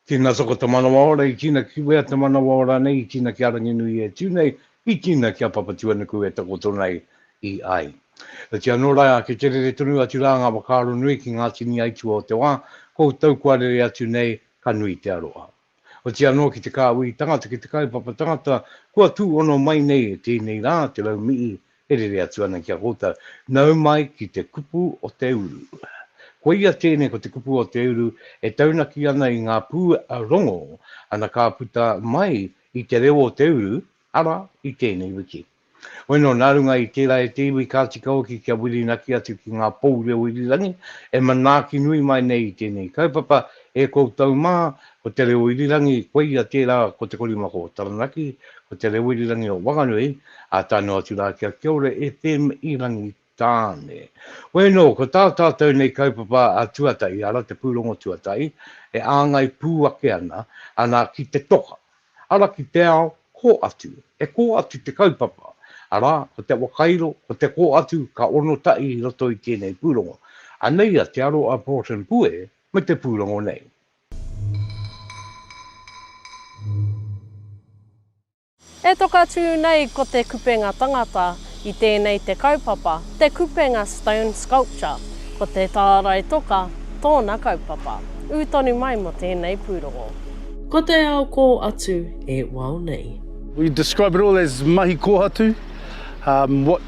Tina soko te manawa ora i tina kiwea te manawa ora nei i tina ki a Ranginui e tu nei i tina ki a Papatuanuku e takoto nei i ai. Oti ano ra ke kerere tonu atu ra nga whakaaro nui ki nga tini aitua o te wa, ko u tau kua rere atu nei ka nui te aroha. Oti anō ki te kāhui tangata ki te kaupapa tangata kua tūhono mai nei e tēnei rā te raumii e rere atu ana ki a koutou. Nau mai ki te kupu o te uru. Koia tēnei ko te kupu o te uru e taunaki ana i ngā pū rongo ana ka puta mai i te reo o te uru, arā, i tēnei wiki. Hoino, nā runga i tērā e te iwi ka tika hoki kia whirinaki atu ki ngā pou reo irirangi e manaaki nui mai nei i tēnei kaupapa e koutou mā, ko te reo irirangi, koia tērā ko Te Korimako o Taranaki, ko te reo irirangi o Wanganui, ā, tae noa atu rā ki a Kiaore FM i Rangitāne. Tāne. Koe nō, ko tā tātou nei kaupapa a tuatahi ara te pūrongo tuatahi, e āngai pū ake ana, anā ki te toka, ara ki te ao, kō atu. E kō atu te kaupapa, arā, ko te wakairo, ko te kō atu, ka ono tahi i roto i tēnei pūrongo. Anei a Te Aro a Porton Pue me te pūrongo nei. E toka tū nei ko Te Kupenga Tangata i tēnei te kaupapa, Te Kupenga Stone Sculpture, ko Te Tārai Toka tōna kaupapa. Ū tonu mai mō tēnei pūrongo. Ko te ao kō atu e wao nei. We describe it all as mahi kōhatu, what.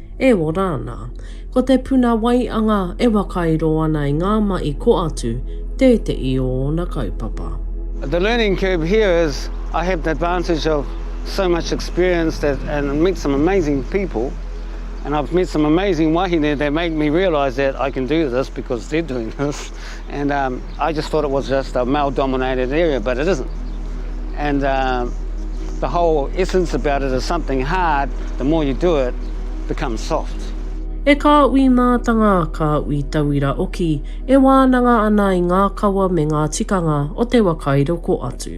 E ora ana. Ko te puna waianga e wakairo ana i ngā mahi ko atu tētehi o ōna kaupapa. The learning curve here is I have the advantage of so much experience that and meet some amazing people and I've met some amazing wahine that make me realise that I can do this because they're doing this. and um, I just thought it was just a male dominated area, but it isn't. And uh, the whole essence about it is something hard, the more you do it, becomes soft. E kā ui mātanga, kā ui tauira oki, e wānanga ana i ngā kawa me ngā tikanga o te waka i roko atu.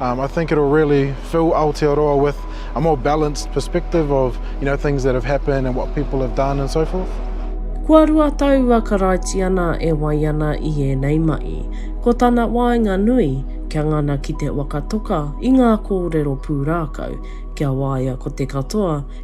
Um, I think it'll really fill Aotearoa with a more balanced perspective of, you know, things that have happened and what people have done and so forth. Kua rua tau a Karaitiana e wai ana i ēnei mahi. Ko tana waenga nui, kia ngana ki te waka toka i ngā kōrero pūrākau, kia waia ko te katoa,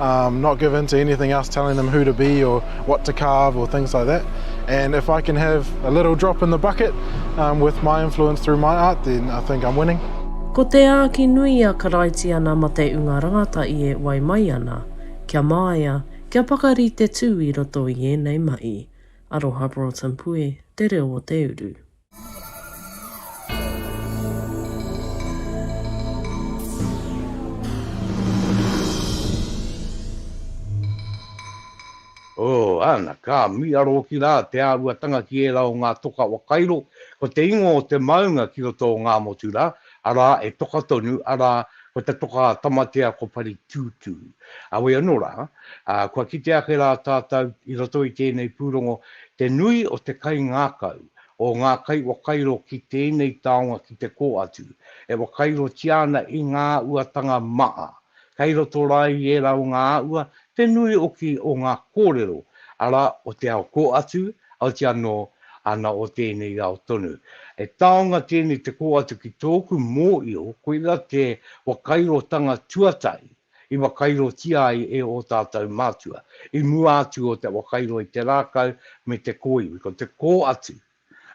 Um not give in to anything else telling them who to be or what to carve or things like that and if I can have a little drop in the bucket um with my influence through my art then I think I'm winning. Ko te āki nui a Karaitiana Mateunga Rangata i e wai mai ana, kia māia, kia pakari te tū i roto i ēnei mahi. Aroha Broughton Pue, Te Reo o te Uru. Oh, ana, ka miia rōki rā te āhuatanga ki ērā o ngā toka whakairo, ko te ingoa o te maunga ki roto o Ngāmotu rā, arā, e toka tonu, arā, ko te toka a Tamatea ko Paritūtū. Heoi anō rā, kua kite ake rā tātou i roto i tēnei pūrongo te nui o te kaingākau, o ngā kaiwhakairo ki tēnei taonga ki te kō atu, e whakairotia ana i ngā uatanga maha, kei roto rā i ērā o ngā āhua, te nui hoki o ngā kōrero, arā, o te ao kō atu, auti anō, ana o tēnei ao tonu. He taonga tēnei te kō atu ki tōku mōhio, koira te whakairotanga tuatahi. i wakairotia ai e ō tātou mātua, i mua atu o te wakairo i te rākau me te kōiwi, ko te kō atu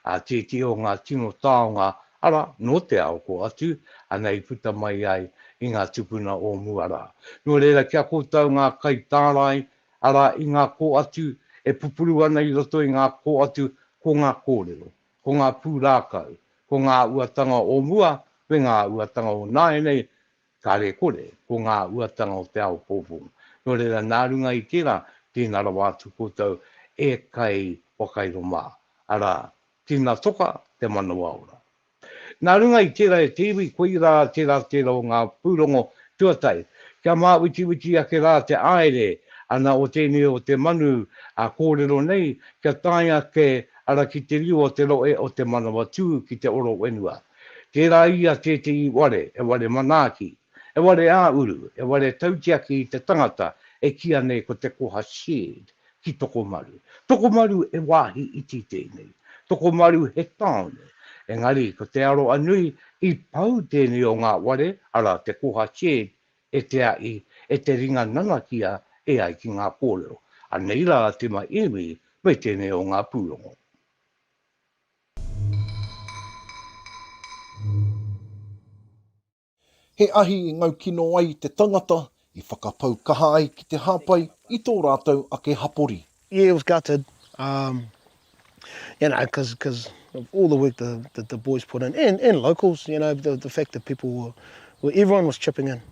a tētehi o ngā tino taonga, arā, nō te ao kō atu, ana i puta mai ai i ngā tupuna o mua rā. Nō reira, ki a koutou ngā kaitārai, arā, i ngā kō atu e pupuru ana i roto i ngā kō atu, ko ngā kōrero, ko ngā pūrākau, ko ngā uatanga o mua me ngā uatanga o nāianei, Kāre kore, ko ngā uatanga o te ao pōpō. Nō reira, nā runga i tērā, tīna rawa atu koutou e kai whakairo mā, arā, tīna toka te manawa ora. Nā runga i tērā e te iwi, koirā tērā tērā o ngā pūrongo tuatahi, kia māuitiuiti ake rā te āere ana o tēnei o te manu a kōrero nei, kia tae ake ara ki te riu o te rohe o te manawa tū ki te oro whenua. Tērā ia tētehi ware, he ware manaaki, he ware ā-uru, he ware tautiaki i te tangata e kīa nei ko te koha shed ki Tokomaru. Tokomaru he wāhi iti tēnei. Tokomaru he tāone. Engari, ko Te Aroanui i pau tēnei o ngā ware, arā, te koha shed e te aʻi, e te ringa nanakia e ai ki ngā kōrero. Anei rā a Tima Iwi me tēnei o ngā pūrongo. He ahi i ngau kino ai te tangata i whakapau kaha ai ki te hāpai i tō rātou ake hapori. Yeah, it was gutted, um, you know, cause, cause of all the work the, the, the boys put in, and, and locals, you know, the, the fact that people were, were, everyone was chipping in.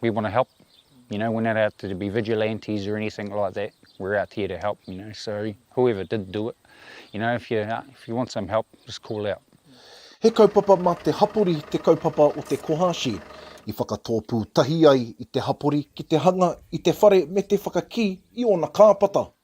we want to help, you know, we're not out to be vigilantes or anything like that, we're out here to help, you know, so whoever did do it, you know, if you, uh, if you want some help, just call out. He kaupapa mā te hapori te kaupapa o te kohashi, i whakatōpū tahi ai i te hapori ki te hanga i te whare me te whakakī i ōna kāpata.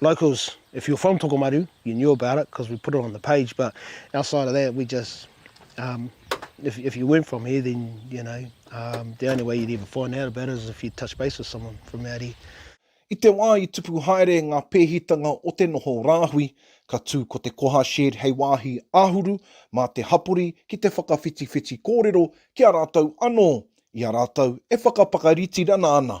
Locals, if you're from Tokomaru, you knew about it because we put it on the page, but outside of that, we just, um, if, if you weren't from here, then, you know, um, the only way you'd ever find out about it is if you touch base with someone from out here. I te wā i tupu haere ngā pēhitanga o te noho rāhui, ka tū ko te koha shed hei wāhi āhuru mā te hapori ki te whakawhitiwhiti kōrero ki a rātou anō, i a rātou e whakapakaritirana ana.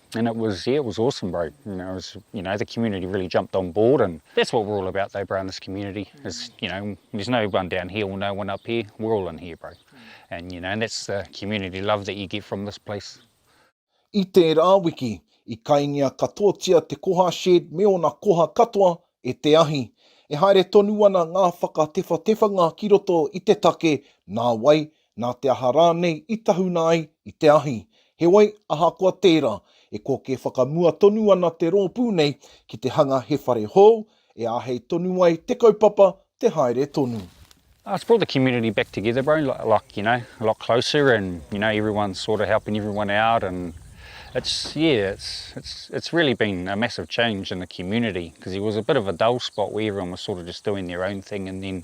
And it was yeah it was awesome bro you know was you know the community really jumped on board and that's what we're all about though bro in this community is you know there's no one down here or no one up here we're all in here bro and you know and that's the community love that you get from this place. I tērā wiki, i kaingia katoatia te koha shed me ōna koha katoa e te ahi. E haere tonu ana ngā whakatewhatewhanga ki roto i te take nā wai nā te aha rānei i tahuna ai i te ahi. Heoi, ahakoa tērā, e kōkē whakamua tonu ana te rōpū nei ki te hanga he whare hou e āhei tonu ai te kaupapa te haere tonu. It's brought the community back together bro, like you know, a lot closer and you know everyone's sort of helping everyone out and it's yeah, it's it's it's really been a massive change in the community, because there was a bit of a dull spot where everyone was sort of just doing their own thing and then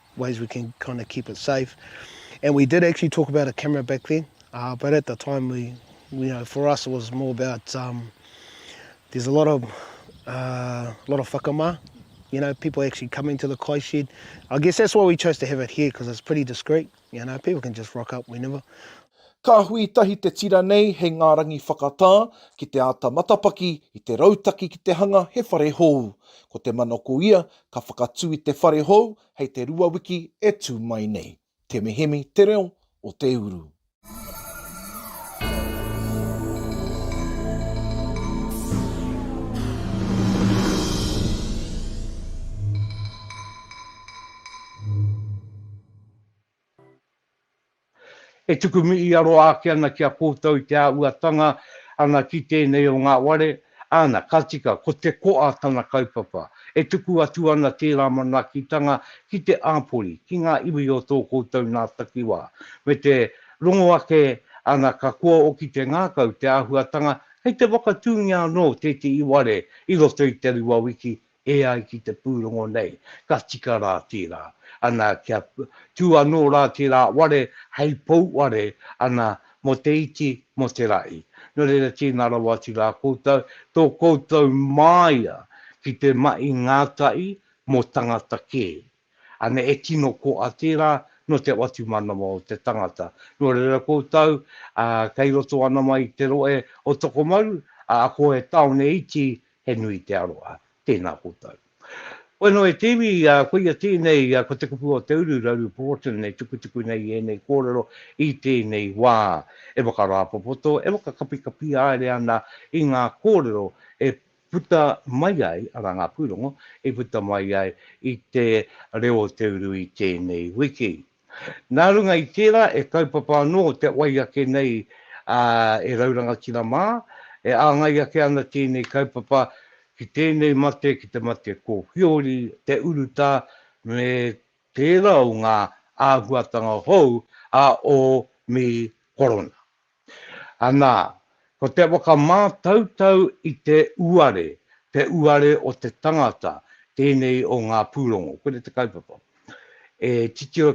ways we can kind of keep it safe. And we did actually talk about a camera back then, uh, but at the time, we, you know, for us it was more about um, there's a lot of uh, lot of whakama, you know, people actually coming to the kai shed. I guess that's why we chose to have it here because it's pretty discreet, you know, people can just rock up whenever. Ka hui tahi te tira nei hei ngā rangi whakatā ki te āta matapaki i te rautaki ki te hanga he whare hou. Ko te manako ia Ka whakatū i te whare hou hei te rua wiki e tū mai nei. Temehemi te reo o te uru. E tuku mihi aro ake ana ki a koutou i te āhuatanga ana ki tēnei o ngā ware, āna, ka tika, ko te koa tana kaupapa. E tuku atu ana tērā manaakitanga ki te āpori, ki ngā iwi o tō koutou nā takiwā, me te rongo ake ana ka kua oki te ngākau, te āhuatanga, kei te whakatūngia anō tētehi ware i roto i te rua wiki, E ai ki te pūrongo nei, ka tika rā tērā, ana, kia tū anō rā tērā ware hei pou ware, ana, mō te iti, mō te rahi. Nō reira, tēnā rawa atu rā koutou, tō koutou māia ki te mahi ngātahi mō tangata kē. Ana e tino koa tērā nō te whatumanawa o te tangata. Nō reira koutou, ā, kei roto ana mai i te rohe o Tokomaru, ā, ako he tāone iti, he nui te aroha. Tēnā koutou. Koe noa e te iwi, ā, koia tēnei, ā, ko te kupu o Te Uru, Rauru Pohotan, e tukutuku nei i ēnei kōrero i tēnei wā. E whakarāpopoto, e whakakapikapi haere ana i ngā kōrero e puta mai ai, arā, ngā pūrongo i puta mai ai i te reo o te uru i tēnei wiki. Nā runga i tērā, e kaupapa anō te wai ake nei a E Rau Rangatira mā, e āngai ake ana tēnei kaupapa ki tēnei mate, ki te mate kōwhiori, te urutā, me tērā o ngā āhuatanga hou a ō mī korona. Anā, ko te whakamātautau i te uare, te uare o te tangata, tēnei o ngā pūrongo. Koinei te kaupapa. E titiro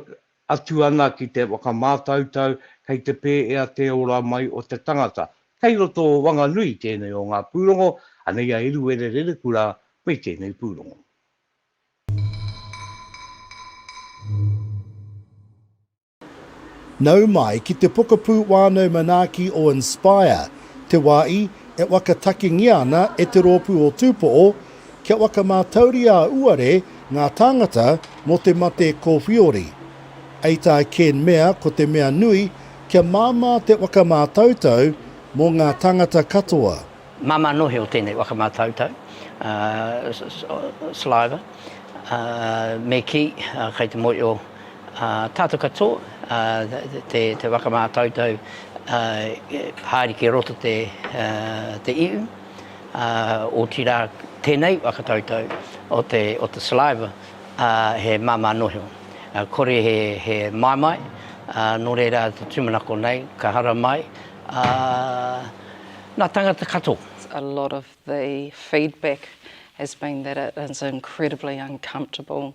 atu ana ki te whakamātautau kei te pēea te ora mai o te tangata. Kei roto o Wanganui tēnei o ngā pūrongo, anei a Eruere Rerekura me tēnei pūrongo. Nau mai ki te pokapū wānau manaaki o Inspire, te wā i e whakatakengia ana e te rōpū o Tūpoʻo kia whakamātauria auare ngā tāngata mō te mate kōwhiori. Hei tā Ken mea ko te mea nui kia māmā te whakamātautau mō ngā tāngata katoa. Māmā nohe o tēnei whakamātautau, saliva, me kī, kei te mōhio Ā tātou katoa, te waka mātautau, haere ki roto te ihu, otirā tēnei waka tautau o te saliva he māmā noho. Kore he maimai, nō reira te tūmanako nei, ka hara mai ngā tāngata katoa. A lot of the feedback has been that it is incredibly uncomfortable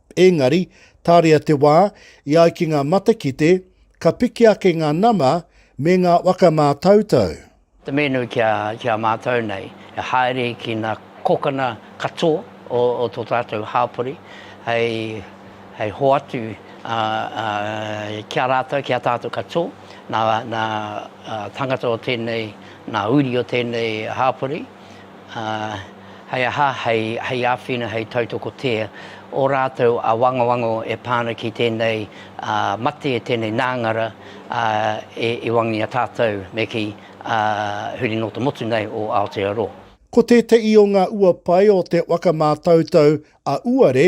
Ēngari, tāria te wā, i ai ki ngā matakite, ka piki ake ngā nama me ngā waka mātautau. Te menu ki a, ki a mātou nei, e haere ki nā kokana katoa o, o tō tātou hāpori, hei, hei hoatu a, a, ki a rātou, ki a tātou katoa, nā, nā tangata o tēnei, nā uri o tēnei hāpori. ā, hei aha, hei, hei āwhina, hei tautokotia ō rātou awangawango e pā ana ki tēnei ā, mate, tēnei nāngara ā, e, e wangia tātou me kī, ā, huri nō te motu nei o Aotearoa. Ko tēteʻi o ngā uapae o te waka mātautau a Uare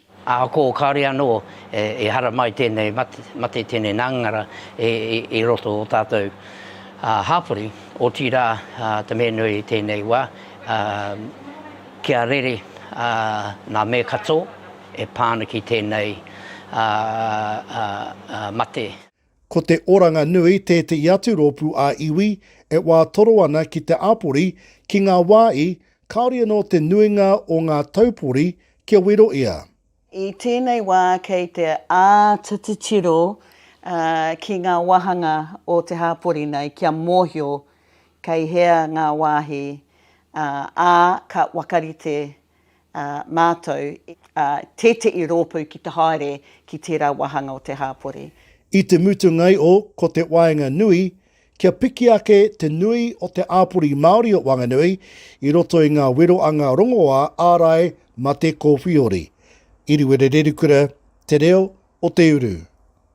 Ahakoa o kāre anō e hara mai tēnei mate, tēnei nangara i roto o tātou hāpori, otirā te mea nui i tēnei wā, kia rere ngā mea katoa e pā ana ki tēnei mate. Ko te oranga nui tētehi atu rōpū ā-iwi e wā toro ana ki te āpori ki ngā wā i, kāore anō te nuinga o ngā taupori kia wero ia. I tēnei wā kei te āta titiro ki ngā wāhanga o te hāpori nei kia mōhio kei hea ngā wāhi, ā, ka whakarite ā mātou, ā, tēteʻi rōpū ki te haere ki tērā wāhanga o te hāpori. I te mutungai o Ko te Waenga Nui, kia piki ake te nui o te āpori Māori o Wanganui i roto i ngā wero a ngā rongoā ārai mate kōwhiori. Iriwere Rerikura, Te Reo o te Uru.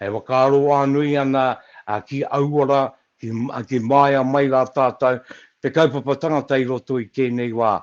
E whakaaro whānui ana ki aua rā, ki māia mai rā tātou, te kaupapa tangata i roto i tēnei wā.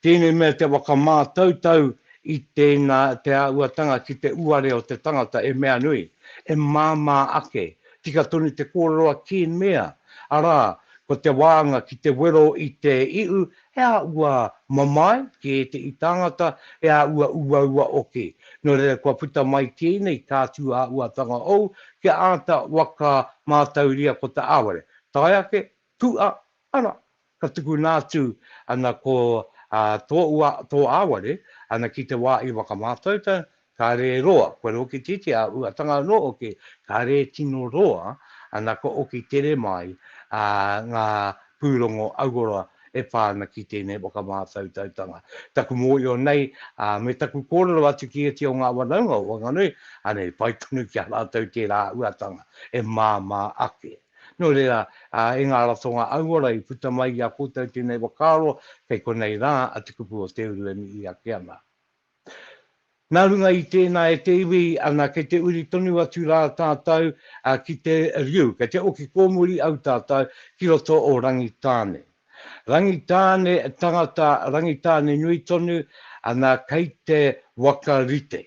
Tēnei mea te whakamātautau i tēnā, te āhuatanga ki te uare o te tangata e mea nui, e māmā ake. Tika tonu te kōrero a Ken Mea, arā, ko te wānga ki te wero i te ihu He aha ua mamae ki ētehi tāngata, he aha ua uaua hoki. Nō reira kua puta mai tēnei tātū āhuatanga hou kia āta waka mātauria ko te āware. Tae ake, kūa, ana, ka tukuna atu ana ko tō āware ana ki te wā i whakamātautau, Kāre e roa, kua rokititi a Uatanga anō hoki, kāre e tino roa ana kua oki tere mai ngā pūrongo auora e pā ana ki tēnei whakamātautautanga. Taku mōio nei me taku kōrero atu ki ētahi o ngā whanaunga o Whanganui, anei, pai tonu ki a rātou tērā Uatanga e māmā ake. Nō reira, e ngā ratonga auora i puta mai i a koutou tēnei whakaaro, kei konei rā a Te Kupu o Te Uru e mihi ake ana. Nā runga i tēnā e te iwi ana kei te uri tonu atu rā tātou ki te riu, kei te oki kōmuri au tātou ki roto o Rangitāne. Rangitāne tangata, Rangitāne nui tonu, ana kei te waka rite.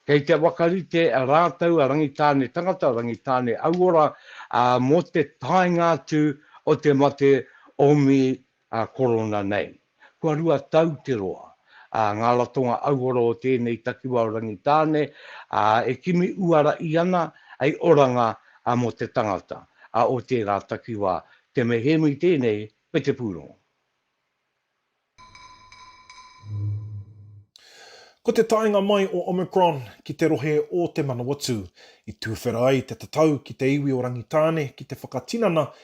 Kei te waka rite rātou a Rangitāne tangata, Rangitāne auora, ā, mō te taenga atu o te mate omi ā Korona nei. Kua rua tau te roa, ā, ngā ratonga auora o tēnei takiwā o Rangitāne, ā, e kimi uara i ana hei oranga ā mō te tangata, ā, o tērā takiwā. Te mehemi tēnei, me te pūrongo. Ko te taenga mai o Omicron ki te rohe o Te Manawatū, i tūwhera ai te tatau ki te iwi o Rangitāne ki te whakatinana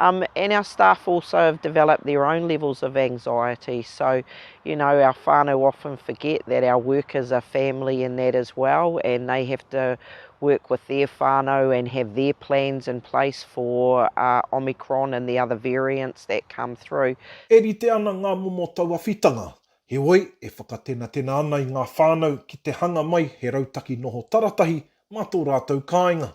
Um and our staff also have developed their own levels of anxiety so you know our whānau often forget that our workers are family in that as well and they have to work with their whānau and have their plans in place for uh, Omicron and the other variants that come through. E rite ana ngā momo tauawhitanga, heoi e whakatenatena ana i ngā whānau ki te hanga mai he rautaki noho taratahi mā tō rātou kāinga.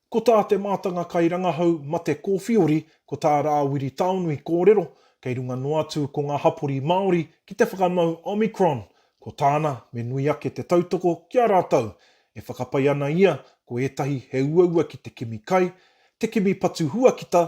Ko tā te mātanga kairangahau mate kōwhiori ko tā Rāwiri Taonui kōrero kei runga noa atu ko ngā hapori Māori ki te whakamau Omicron, ko tāna me nui ake te tautoko ki a rātou. E whakapae ana ia ko ētahi he uaua ki te kimi kai, te kimi patu huakita,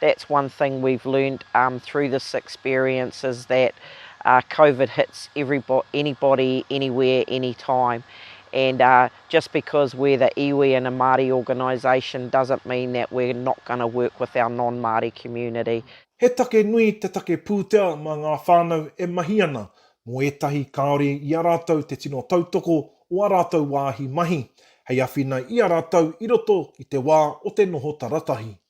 That's one thing we've learned um through this experience is that uh, COVID hits everybody, anybody, anywhere, anytime. And uh, just because we're the iwi and a Māori organisation doesn't mean that we're not going to work with our non-Māori community. He take nui te take pūtea mā ngā whānau e mahi ana mō ētahi kāore i a rātou te tino tautoko o ā rātou wāhi mahi, hei awhina i a rātou i roto i te wā o te noho taratahi.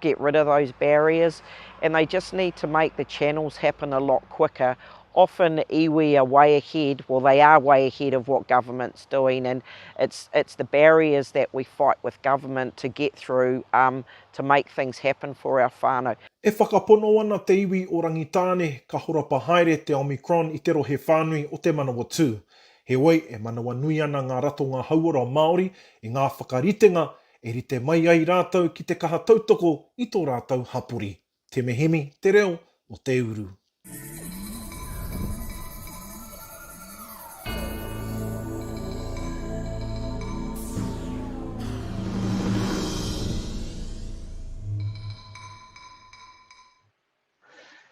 get rid of those barriers and they just need to make the channels happen a lot quicker. Often iwi are way ahead, well they are way ahead of what government's doing and it's, it's the barriers that we fight with government to get through um, to make things happen for our whānau. E whakapono ana te iwi o Rangitāne ka horapa haere te Omicron i te rohe whānui o Te Manawatū. Heoi, e manawanui ana ngā ratonga hauora Māori i ngā whakaritenga e rite mai ai rātou ki te kaha tautoko i tō rātou hapori. Te Mehemi, te reo o te uru.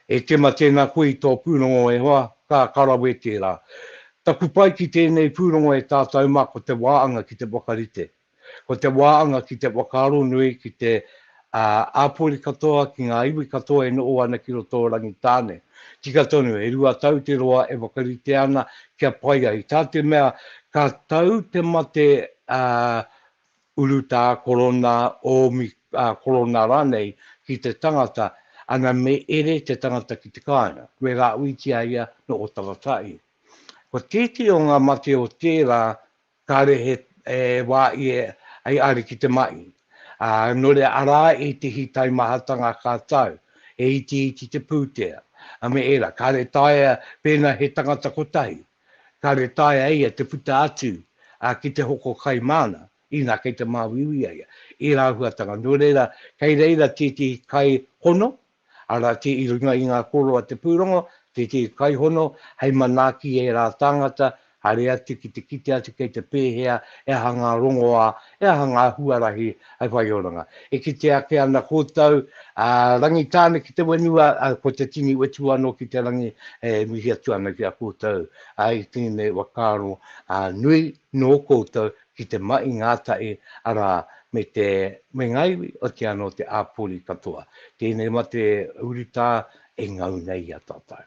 E tima tēnā koe i tō pūrongo e hoa, ka karawe tērā. Taku pai ki tēnei pūrongo e tātau mā ko te wāanga ki te whakarite. Ko te wāanga ki te whakaaro nui ki te āpori katoa, ki ngā iwi katoa e noho ana ki roto o Rangitāne. Tika tonu, e rua tau te roa e whakarite ana kia pai ai. Tā te mea ka tau te mate Urutā korona, ōmi, ā, korona rānei, ki te tangata, ana me ere te tangata ki te kāinga. Me rāuitia ia nō Otaratai. Ko tētehi o ngā mate o tērā, kāre he e wā ia hei ariki te mahi. Ā, nō reira arā ētehi taimahatanga ka tau, he itiiti te pūtea, a me ērā, kāre taea pēnā he tangata kotahi. Kāore e taea e ia te puta atu ki te hoko kai māna, inā kei te māuiui a ia. Ērā āhuatanga, nō reira, kei reira tētehi kai hono, arā, i runga i ngā kōrero a te pūrongo, tētehi kai hono hei manaaki i ērā tāngata, haere atu ki te kite atu kei te pēhea, he aha ngā rongoā He aha ngā huarahi hei whaioranga? E kite ake ana koutou, a, Rangitāne ki te whenua, a, ko te tini wetu anō ki te rangi e mihi atu ana ki a koutou, a, i tēnei whakaaro, a, nui nō koutou ki te mahi ngātahi, arā, me te, me ngā iwi, otiā nō te āpori katoa. Tēnei mate urutā e ngau nei i a tātou.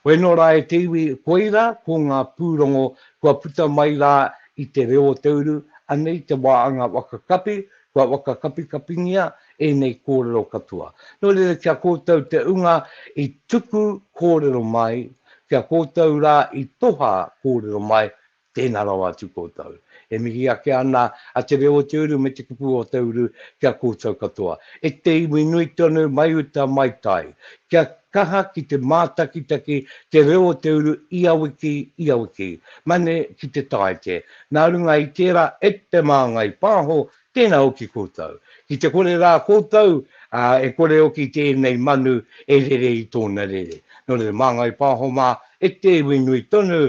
Whai anō rā e te iwi koirā ko ngā pūrongo kua puta mai rā i te reo o te uru, anei te wā anga waka kapi, kua waka kapikapingia ēnei kōrero katoa. Nō reira ki a kōtou te ūnga i tuku kōrero mai, ki a kōtou rā i toha kōrero mai, Tēnā rawa atu koutou. E mihi ake ana a Te Reo o Te Uru me Te Kupu o Te Uru ki a koutou katoa. E te iwi nui tonu mai uta mai tai, kia kaha ki te mātakitaki Te Reo o Te Uru ia wiki, ia wiki. Mane ki te Tāite. Nā runga i tērā e te māngai pāho, tēnā hoki koutou. Ki te kore rā koutou, ā, e kore hoki tēnei manu e rere i tōna rere. Nō reira māngai pāho mā e te iwi nui tonu